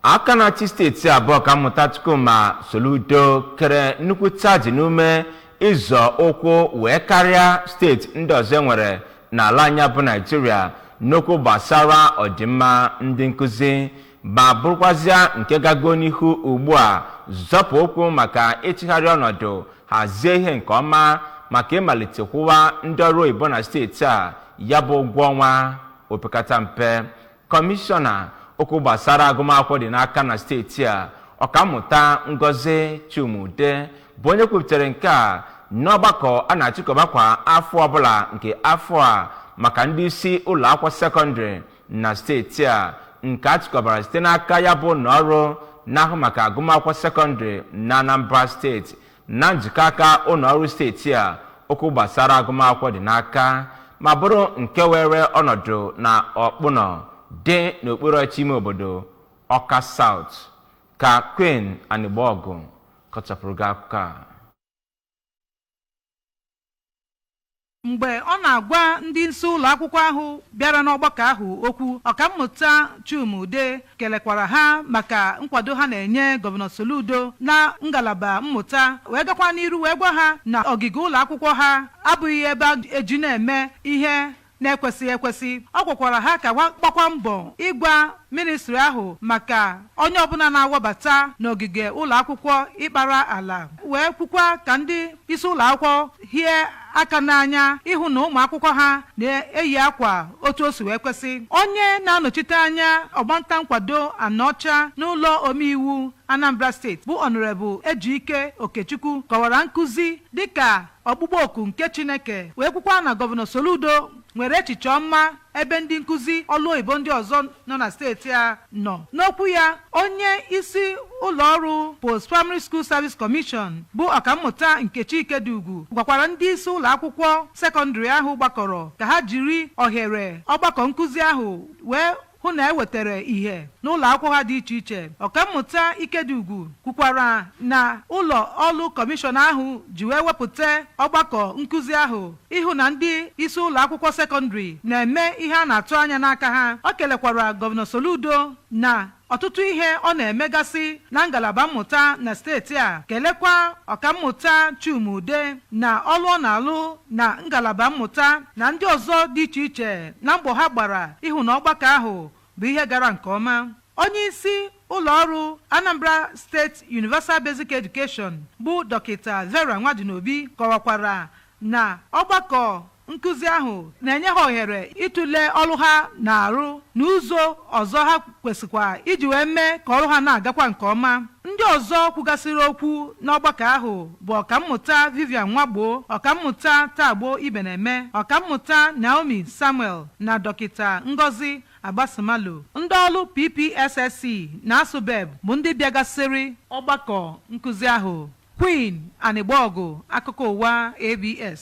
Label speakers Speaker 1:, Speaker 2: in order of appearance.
Speaker 1: aka na-achị steeti a bụ ọkammụta Chukwuma Soludo kere nkwụcha ji n'ume ịzọ ụkwụ wee karịa steeti ndị ọzọ e nwere n'ala anyị a bụ Naịjirịa n'okwu gbasara ọdịmma ndị nkụzi ma bụrụkwazịa nke gago n'ihu ugbu a zọpụ ụkwụ maka ịchịgharị ọnọdụ hazie ihe nke ọma maka ịmalite kwụwa ndị ọrụ oyibo na steeti a ya bụ ụgwọ ọnwa opekata mpe Kọmishọna okwu gbasara agụmakwụkwọ dị n'aka na steeti a ọkammụta Ngozi Chuma-Udeh bụ onye kwupụtara nke a n'ọgbakọ a na-achịkọba kwa afọ ọbụla nke afọ a maka ndị isi ụlọ akwụkwọ sekọndịrị na steeti a nke a chịkọbara site n'aka ya bụ ụlọ ọrụ na-ahụ maka agụmakwụkwọ sekọndịrị na Anambra steeti na njikọ aka ụlọ ọrụ steeti a okwu gbasara agụmakwụkwọ dị n'aka ma bụrụ nke were ọnọdụ na Ọkpụnọ dị n'okpuru ọchịchị ime obodo Ọka South ka Queen Anigbogu kọchapụrụ gị akụkọ a
Speaker 2: mgbe ọ na-agwa ndị isi ụlọ akwụkwọ ahụ bịara n'ọgbakọ ahụ okwu ọkammụta Chuma-Udeh kelekwara ha maka nkwado ha na-enye gọvanọ Soludo na ngalaba mmụta wee gakwa n'iru wee gwa ha na ogige ụlọ akwụkwọ ha abụghị ebe e ji na-eme ihe na-ekwesịghị ekwesị ọ gwakwara ha ka ha gbakwa mbọ ịgwa ministri ahụ maka onye ọbụla na-awabata n'ogige ụlọ akwụkwọ ịkpara ala wee kwukwa ka ndị isi ụlọ akwụkwọ hie aka n'anya ịhụ na ụmụ akwụkwọ ha na-eyi akwa otu o si wee kwesị onye na-anọchite anya ọgbanta nkwado Anaọcha n'ụlọ omeiwu Anambra steeti bụ Honorable Ejike Okechukwu kọwara nkụzi dịka ọkpụkpọ oku nke Chineke wee kwukwa na gọvanọ Soludo nwere echiche ọma ebe ndị nkụzi ọlụ oyibo ndị ọzọ nọ na steeti a nọ n'okwu ya onye isi ụlọ ọrụ Post Primary School Service Commission bụ ọkammụta Nkechi Ikediugwu gwakwara ndị isi ụlọ akwụkwọ sekọndịrị ahụ gbakọrọ ka ha jiri ohere ọgbakọ nkụzi ahụ wee hụ na e wetara ihe n'ụlọ akwụkwọ ha dị iche iche. Ọkammụta Ikediugwu kwukwara na ụlọ ọrụ kọmishọn ahụ ji wee wepụta ọgbakọ nkụzi ahụ ịhụ na ndị isi ụlọ akwụkwọ sekọndịrị na-eme ihe a na-atụ anya n'aka ha. O kelekwara Gọvanọ Soludo na ọtụtụ ihe ọ na-emegasị na ngalaba mmụta na steeti a, kelekwa Ọkammụta Chuma-Udeh na ọrụ ọ na-alụ na ngalaba mmụta. na ndị ọzọ dị iche iche na mbọ ha gbara ịhụ na ọgbakọ ahụ bụ ihe gara nke ọma onye isi ụlọ ọrụ Anambra Steeti Universal Basic Education bụ dọkịta Vera Nwadinobi kọwakwara na ọgbakọ nkụzi ahụ na-enye ha ohere ịtụle ọrụ ha na-arụ na ụzọ ọzọ ha kwesịkwa iji wee mee ka ọrụ ha na-agakwa nke ọma ndị ọzọ kwugasịrị okwu n'ọgbakọ ahụ bụ ọkammụta Vivian Nwagbo ọkammụta Tagbo Ibeneme ọkammụta Naomi Samuel na dọkịta Ngozi Agbasimalo ndị ọrụ PPSSC na ASUBEB bụ ndị bịagasịrị ọgbakọ nkụzi ahụ Queen Anịgbọgụ akụkọ ụwa ABS